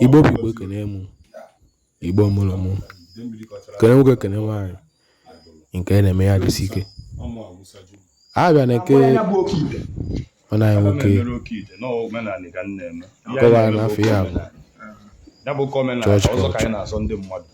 Igbo bụ Igbo ekene mụ Igbo mụrụ mụ kene nwoke kene nwaanyị nke na-eme ya jisi ike a bịa na nke ọ naghị nwoke kọwara n'afọ ya bụ chọọchị kọọchị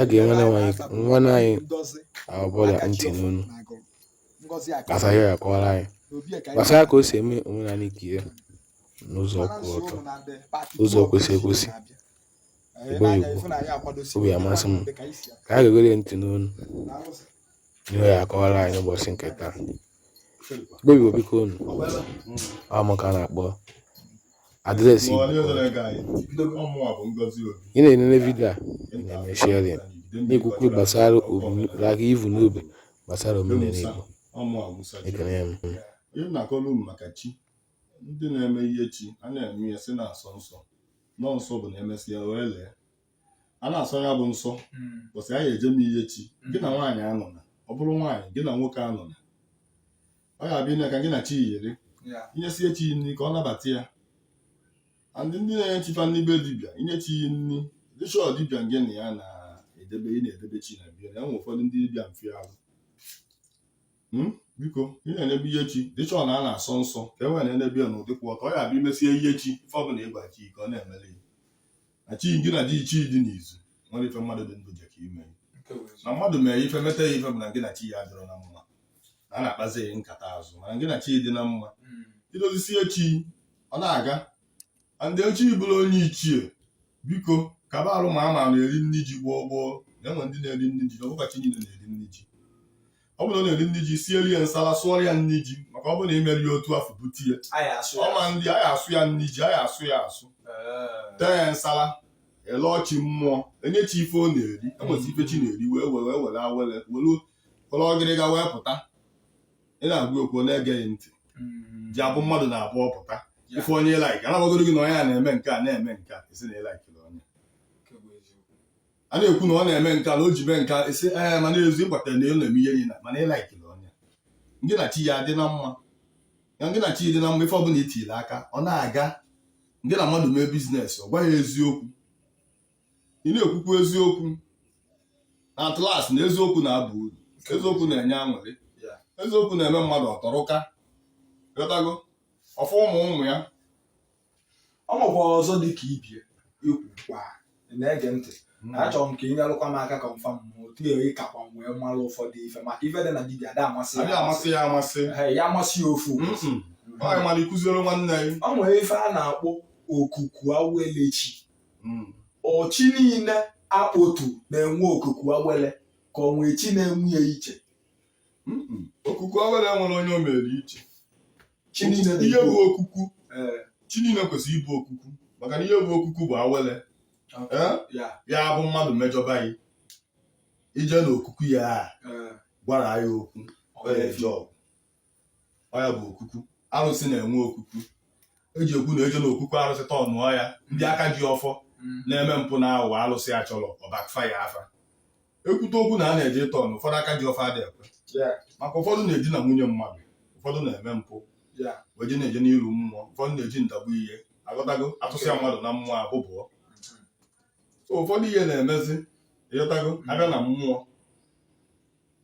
a ga-enwe nwanne anyị ọbụla ntị n'ọnụ gbasara ya akọwara anyị gbasara ka o si eme omenala nke ya n'ụzọ kwụ ọtọ ụzọ kwesị ekwesị egbeghị egwu obi amasị m ka a ga-egere ntị n'ọnụ ihe ya akọwara anyị n'ụbọchị nke taa gbebiwo biko unu ọ mụ ka a na-akpọ adreesị Igbo ị na-enene vidio a na-eme sharing na-ekwukwu gbasara omenala i vu n'obi gbasara omenala Igbo ekele m ihe na-akọrọ unu maka chi ndị na-eme ihe chi a na-eme ya si na-asọ nsọ nọ nsọ bụ na emesịa wee lee a na-asọ ya bụ nsọ bụsị hmm. ị ya-eje me ihe chi gị na nwaanyị anọna ọ bụrụ nwaanyị gị na nwoke anọna ọ ga-abịa ime ka gị na chi yiri i nyesie chi nri ka ọ nabata ya ndị na-enye chi fa nri be dibịa inye chi yi nri dịchọ dibịa gị na ya na-edebe ị na-edebe chi na be ya nwe ụfọdụ ndị dibịa mfe ahụ hmm? biko ị na-emebe ihe chi dị sure na a na-asọ nsọ ka e wee na-emebe ya n'ụdị kwụ ọtọ ọ ya-abịa i mesie ihe chi ife ọbụla ị gwa chi ka ọ na-emere ya na chi gị na ji chi dị n'izu nwere ife mmadụ dị ndụ jeka ime na mmadụ mere ife meta ya ife bụ na gị na chi ya adịrọ na mma na a na-akpazi ya nkata azụ mana gị na chi dị na mma hmm. i dozisie chi ọ na-aga ndị echi bụrụ onye ichie biko kaba alụ maa ma ọ na-eri nri ji gboo gboo na-enwe ndị na-eri nri ji na ọ bụkwa chi niile na-eri nri ji ọ bụrụ na ọ na-eri nri ji sielu ya nsala sụọrọ ya nri ji maka ọ bụrụ na i meri ya otu afụ bute ihe ọma na a ya-asụ ya nri ji a ya-asụ ya asụ Ee. tee ya nsala e lee chi mmụọ e nye chi ife ọ na-eri enwezi ife chi na-eri wee were awele were ọgịrịga wee pụta ị na-agwa okwu ọ na-ege gị ntị Mm. ji abụ mmadụ na-abụ ọ pụta Ya. ife onye laik anabagoro gị na onye a na-eme nke a na-eme nke a esi na ị laikiri onye Nke bụ eziokwu. a na-ekwu na ọ na-eme nke a na o ji mee nke a esi ee mana ezu ịgbatara na ị na-eme ihe niile mana ị laikiri onye gị na chi ya dị na mma gị na chi dị na mma ife ọbụla i tiri aka ọ na-aga gị na mmadụ mee biznes ọ gwa gị eziokwu ị na-ekwukwu eziokwu na at last na eziokwu na-aba uru eziokwu na-enye aṅụrị eziokwu na-eme mmadụ ọ tọrụka ghọtago ọ fụ ụmụ ụmụ ya ọ nwekwa ọzọ dị ka ibie ikwu kwa na-ege ntị hmm. achọrọ m ka ị nyelụkwa m aka confirm otu eri kakwa m wee mara ụfọdụ ife maka ife dị na dibia ada amasị ya amasị ya ofu mara ịkuziere nwanne ya ọ nwere ife a na-akpọ okuku awele chi hmm. ọ chi niile a kpotu na-enwe okuku awele ka ọ nwee chi na-enwe ya iche okuku awele nwere onye o mere iche Chi niile na- ihe bụ okuku Ee, chi niile kwesịrị ịbụ okuku maka na ihe bụ okuku bụ awele Eh? ya, ya bụ mmadụ mejọba gị i je n'okuku ya a, ee, gwara ya okwu ọ ya eje ọgụ ọ ya bụ okuku arụsị na-enwe okuku e ji ekwu na eje n'okuku arụsị tọ ọnụ ọ ya ndị aka ji ọfọ mm, na-eme mpụ na aghụghọ arụsị a chọrọ ọ backfire fa ekwute okwu na a na-eje ịtọ ọnụ ụfọdụ aka ji ọfọ adị ekwe maka ụfọdụ na-edina nwunye mmadụ ụfọdụ na-eme mpụ wee na-eje n'iru mmụọ ụfọdụ na-eji ndagbu ihe ị ghọtago atụsịa mmadụ na mmụọ abụbụọ so ụfọdụ ihe na-emezi ị ghọtago a bịa na mmụọ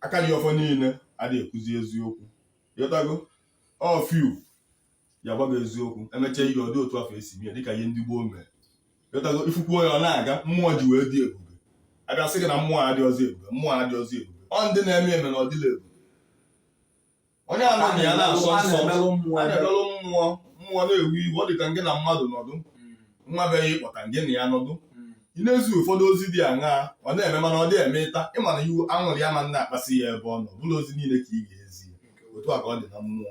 aka ji ọfọ niile adịghị ekwuzi eziokwu ị ghọtago ọ few ya gwa gị eziokwu e mechaa ihe ọ dị otu afụ e si mee dịka ihe ndị gboo mere ị ghọtago ị fụkwuo ya ọ na-aga mmụọ ji wee dị ebube a bịa sị gị na mmụọ adịrọzị ebube mmụọ adịrọzị ebube ọ ndị na-eme eme na ọ dịla ebube onye anọghị ya na-asọ nsọ na-emelụ mmụọ a na-emelụ mmụọ mmụọ na-ewu iwu ọ dị ka ngị na mmadụ nọdụ nwa be ya ị kpọta ngị na ya nọdụ ị na-ezi ụfọdụ ozi dị aṅaa ọ na-eme mana ọ dị eme ịta ị ma na iwu aṅụrị ya ma na-akpasị ya ebe ọ nọ bụrụ ozi niile ka ị ga-ezi ya. otu a ka ọ dị na mmụọ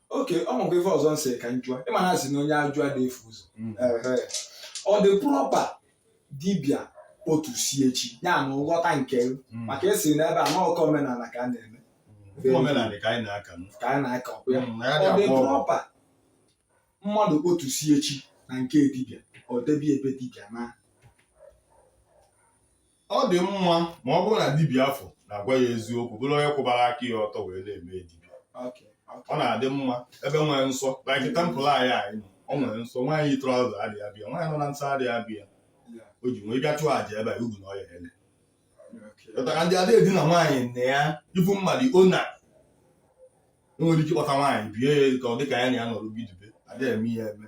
okay ọ nwekwa ife ọzọ m sị ka m jụa ị ma na a sị na onye ajụ ada efu ụzọ mm. ọ dị proper dibịa kpotusie chi ya na nghọta nke mm. maka e si na ebe a na-akọ omenala ka a na-eme mm. omenala ka anyị na-aka ka anyị na-aka ya ọ dị proper mmadụ kpotusie chi na nke dibịa o debe ya be dibịa na ọ dị mma ma ọ bụrụ na dibịa afụ na-agwa ya eziokwu bụrụ onye kwụbara aka ya ọtọ wee na-eme dibịa ọ na-adị mma ebe nwere nsọ like temple anyị nọ ọ nwere nsọ nwaanyị yi trouser adịghị abịa nwaanyị nọ na nsọ adịghị abịa o ji nwee bịa chụọ aja ebe a ugwu na ọya ele pụtara ndị ada edina nwaanyị nne ya ibu mmadụ ọ na e nwere ike ịkpọta nwaanyị be ya ka ọ dị ka ya na ya nọrọ bidobe ada eme ya eme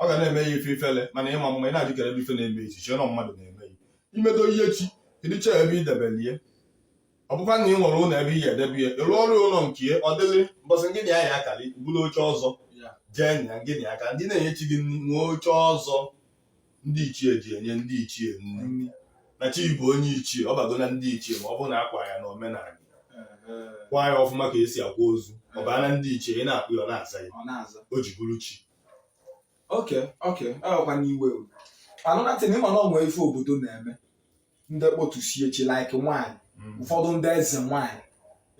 ọ ga na-eme ya ife ifele mana ịma mma ị na-ajụkere ebe ife na-eme echi chie na mmadụ na-eme ya i medo ya chi kedu chọọ ebe i debelie ọ bụkwa na ị nwere ụlọ ebe ị ya-edebe ya ị rụọrọ ụlọ nke ya ọ dịrị mbọsị ngị na ya ya-akalị bụrụ oche ọzọ jee na ngị na-aka ndị na-enye chi gị nri nwee oche ọzọ ndị ichie ji enye ndị ichie nri na chi bụ onye ichie ọ bago na ndị ichie ma ọ bụrụ na akwa ya na omenala kwa ya ọfụma ka esi akwa ozu ọ baa na ndị ichie ị na-akpọ ya ọ na-aza gị o ji bụrụ chi okay okay ọkwa n'iwe anụnatị na ịma na onwe ife obodo na-eme ndị kpọtusie chi like nwaanyị mm. ụfọdụ ndị eze nwaanyị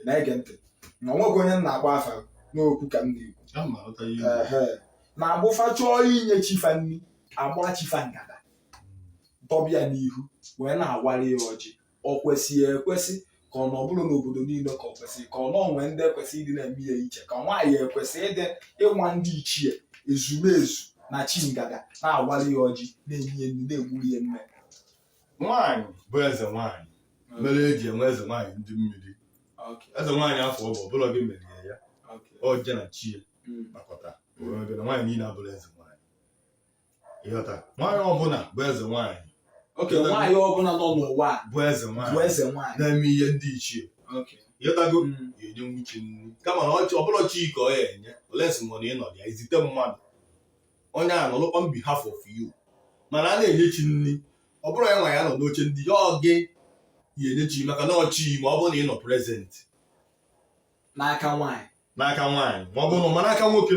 na-ege ntị na onweghị onye m na-agba afa n'okwu ka m na-ekwu na ọ bụ fa chọọ inye chi fa nri agba chi fa ngada dọbe ya n'ihu wee na-awara ya ọjị ọ kwesịghị ekwesị ka ọ na ọ bụrọ n'obodo niile ka ọ kwesịrị ka ọ na onwe ndị ekwesị ịdị na-eme ya iche ka nwaanyị ekwesị ịdị ịnwa ndị ichie ezumezu na chi ngada na-awali ya ọjị na-enye ya nri na-egburu ya mme nwaanyị bụ eze nwaanyị mere eji enwe eze nwaanyị ndị mmiri eze nwaanyị afọ ọ bụ ọbụla gị merie ya ọ je na chi ya nakọta nwaanyị niile abụrụ eze nwaanyị ịghọta nwaanyị ọbụla bụ eze nwaanyị okay nwaanyị ọbụla nọ n'ụwa a bụ eze bụ nwaanyị eze nwaanyị na-eme ihe ndị ichie okay ịghọtago Mm. ya enye nwuchi nri kama na ọ- ọbụrọ chi ka ọ ya enye unless mụ na ịnọ ya izite mmadụ onye a nọlụkwa on behalf of you mana a na-enye chi nri ọ bụrụ ya nwa ya nọ n'oche ndị ichie ọ gị ya enye chi maka na ọ chi gị ma ọ bụrụ na ị nọ present n'aka nwaanyị n'aka nwaanyị ma ọ bụrụ na ọ ma n'aka nwoke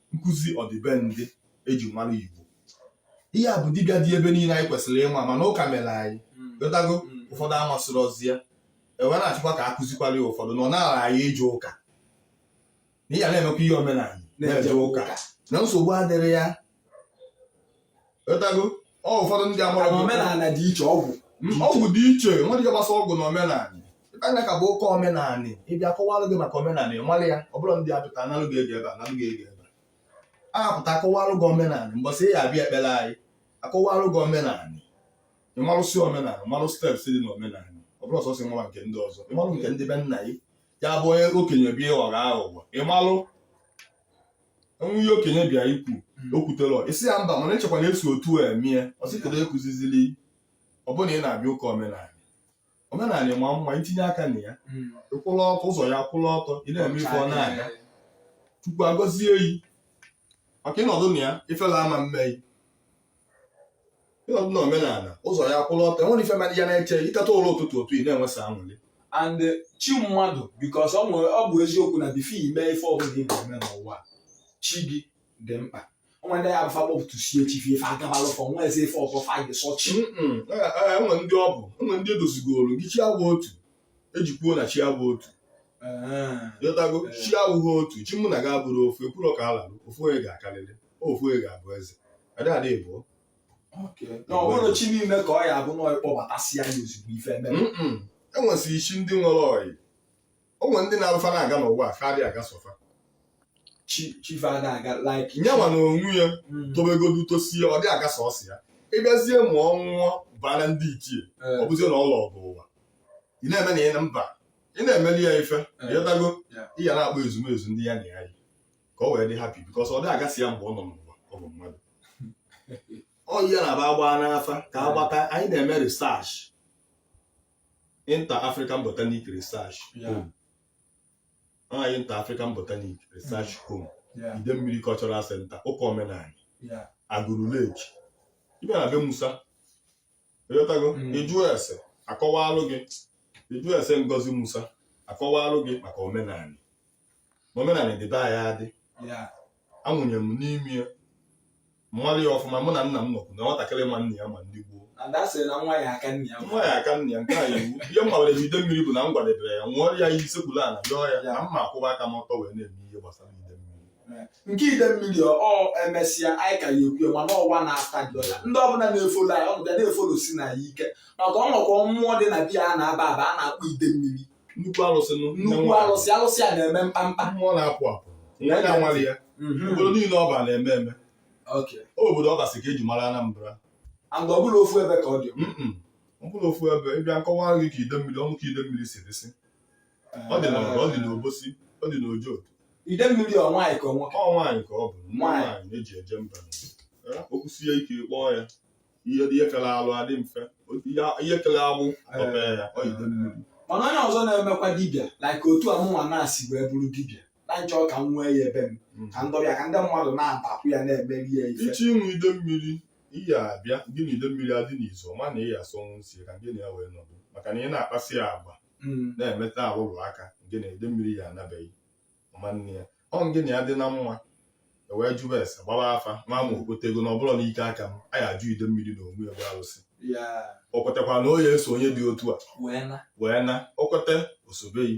nkụzi ọdịbendị eji mara Igbo ihe a bụ dibịa dị ebe niile anyị kwesịrị ịma mana ụka mere anyị ghọtago ụfọdụ amasịrị ozi ya enwe na-achọkwa ka akụzikwara ya ụfọdụ na ọ na-ara anyị ije ụka na ihe a na-emekwa ihe omenala na-eje ụka na nsogbu adịrọ ya etago ọ ụfọdụ ndị amara Mana omenala dị iche ọgwụ Mm, ọgwụ dị iche nwere ike gbasa ọgwụ na omenala ịkanya ka bụ oke omenala ịbịa kọwalụ gị maka omenala ị mara ya ọ bụrụ ndị apụta analụ gị ego ebe a analụ gị ego ebe a apụta akọwalụ gị omenala mbọsị ya abịa ekpere anyị akọwalụ gị omenala ịmalụsị omenala malụ steps dị na omenala ọ bụrụ ọsọsọ ịmara nke ndị ọzọ ịmalụ nke ndị be nna gị ya bụ onye okenye bịa ịghọ aghụghọ ịmalụ enwe ihe okenye bịa ikwu hmm. o kwutere isi ya mba mana echekwa na esi otu a eme ya ọsịkere ekụzizili ọbụna ị na-abịa ụka omenala omenala ma mma itinye aka na ya hmm. ịkwụla ọtọ ụzọ ya kwụla ọtọ ị na-eme ife ọ na-aga Chukwu agọzie yi maka ịnọdụ na ya ifela ama mmei ịnọdụ na omenala ụzọ ya kwụrụ ọtọ enwere ife mmadụ ya na-eche iteta ụla ụtụtụ otu ị na-enwesa anwụlị and chi mmadụ because ọ nwere ọ bụ eziokwu na before ime ife ọbụla ị na-eme n'ụwa chi gị dị mkpa onwe ndị ya bụ fa kpọpụtụsie chi fa ife agabalụ fa onwezi ife ọzọ fa gị sọ chi enwe ndị ọ bụ enwe ndị edozigoro gị chi agwa otu e ji kwuo na chi abụ otu ị ghọtago ah. chi abụghị otu chi mụ na gị abụrọ ofu ekwurọ ka ala ofu onye ga-akarịrị ofu onye ga-abụ eze adịghị ịbụọ na ọ bụrụ chi niile ka ọ ya abụ na ị kpọbatasị ya ozugbo ife eme enwesịrị chi ndị nwere ọyị o nwere ndị na-abụ fa na-aga n'ụwa fa adịghị aga sọ fa chi fa na-aga like nyanwa na onwe ya mm. tobegodu tosie ọ dị aga sọsọ ya ị bịazie ma ọ nwụọ baa na ndị ichie eh. ọ bụzie na ọ lọgo ụwa ị na-eme na ị na mba ị na-emeli ya ife ị ghọtago ị ya na-akpọ ezumezu ndị ya na ya yi ka o wee dị happy because ọ dị aga sọ ya mgbe ọ nọ n'ụwa ọ bụ mmadụ ọ yi ya na-abụ a gbaa n'afa ka a gbata anyị na-eme research inter african botanic research home anyị inter african botanic research home Idemmiri cultural center ụka omenala Agụlụ Lake ị bịa na be Musa ị ghọtago Mm. ị jụọ ese a kọwalụ gị ị jụọ ese Ngozi Musa akọwalụ gị maka omenala na omenala dị be anyị adị ya a mụnye m n'ime ya m malụ ya ọfụma mụ na nna m nọkwu na nwatakịrị ma nna ya ma ndị gboo a da asị na nwa ya aka nne ya nwa ya aka nna ya nke a iwu ihe m gwara Idemmiri bụ na m gwadebere ya ṅụọ ya iyi sekpuru ala yọọ ya na m ya akwụba aka m ọtọ wee na-eme ihe gbasara nke Idemmiri ọ emesịa anyị ka ya ekwu mana ọwa na afta dị ọya ndị ọbụla na-efolo anyị ọnụ bịa na-efolo si na ya ike maka o nwekwa mmụọ dị na be ya a na-aba aba a na-akpọ Idemmiri nnukwu alụsị nụ nne nnukwu nwaanyị. alụsị alụsị a na-eme mkpamkpa mmụọ na-apụ apụ Ya ya na-anwale ya Mhm. obodo niile ọ bara na-eme eme Okay. Ọ bụ obodo ọ gasị ka e ji mara Anambra and ọ bụrọ ofu ebe ka ọ dị Mm-mm. ọ bụrọ ofu ebe ị bịa m kọwa gị ka Idemmiri ọnụ ka Idemmiri si dịsị ọ dị n'ọrụ ọ dị n'Obosi ọ dị n'Ojoto Idemmiri ọ nwaanyị ka ọ nwoke ọ nwaanyị ka ọ bụ nwa Nwaanyị. nwaanyị na-eji eje mba Eh, okwu sie ike kpọọ ya ihe ihe kere alụ adị mfe Otu ihe- ihe kere agbụ tọpe ya ọ Idemmiri mana onye ọzọ na-emekwa dibịa like otu a mụnwa na-esi wee bụrụ dibịa na m chọ ka m nwee ya ebe m Mm. ka m dọbe ya ka ndị mmadụ na-abịakwu ya na-emeri ya ife ichi ịṅụ Idemmiri iyi abịa gị na Idemmiri adị n'izu ọma na ị ya asọnwu nsọ ka gị na ya wee nọdụ maka na ị na-akpasị ya agwa mm. na-emeta alụlụ aka ngị na Idemmiri ya anọ be gị ọma nne ya ọ ngị na ya dị na mma e wee jụba ese gbaba afa nwa ma o kwetego na ọ bụrọ n'ike aka m a ya ajụ Idemmiri na onwe ya bụ arụsị o kwetakwa na ọ ya eso onye dị otu a wee na o kweta o sobe gị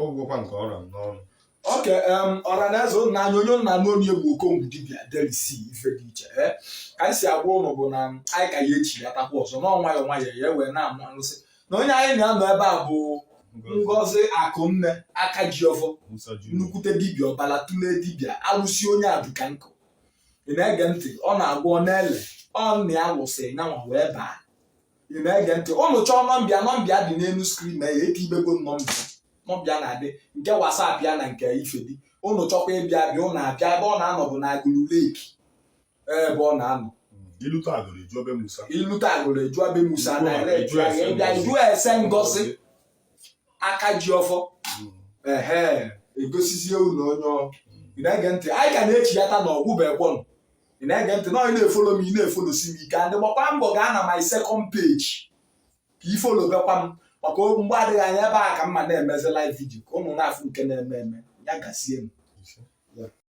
ọ gwụgokwa nke ọ ra m n'ọnụ okay ọra na eze ụnụ n'anya onye nna n'obi egwu okongwu dibịa delisi ife dị iche ee ka anyị si agwa ụnụ bụ na anyị ka ya echiyatakwa ọzọ na ọ nwayọ nwayọ ya wee na-amụ arụsị na onye anyị na ya nọ ebe a bụ Ngozi Akụnne aka ji ọfọ Musa Junior. nnukwute dibịa ọbala tụlee dibịa alụsị onye aduka nkụ ị na-ege ntị ọ na-agwọ ọ na-ele ọ nna ya lụsịa nyanwa wee baa ị na-ege ntị ụnụ chọọ nọmba ya nọmba ya dị n'elu screen na ya eti ibego nọmba ya nọmba ya na-adị nke whatsapp ya na nke ifedi ụnụ chọkwa ịbịa be ya ụnụ abịa ebe ọ na-anọ bụ na agụlụ lake ebe ọ na-anọ i lute agụlụ eju ebe musa i lute agụlụ eju ebe musa direct ya ịbịa jụọ ese ngozi aka ji ọfọ ehe egosizie ụlọ onye ọ ị na-ege ntị anyị ka na-echiyata na ọ gwụbekwọnụ ị na-ege ntị na onye na-efolo m ị na-efolosi m ike and ị gbakwa mbọ gaa na my second page ka ị folobekwa m maka mgbe adịghị anya ebe a ka m ma na-emezi live video ka ụnụ na-afụ nke na-eme eme ya gazie m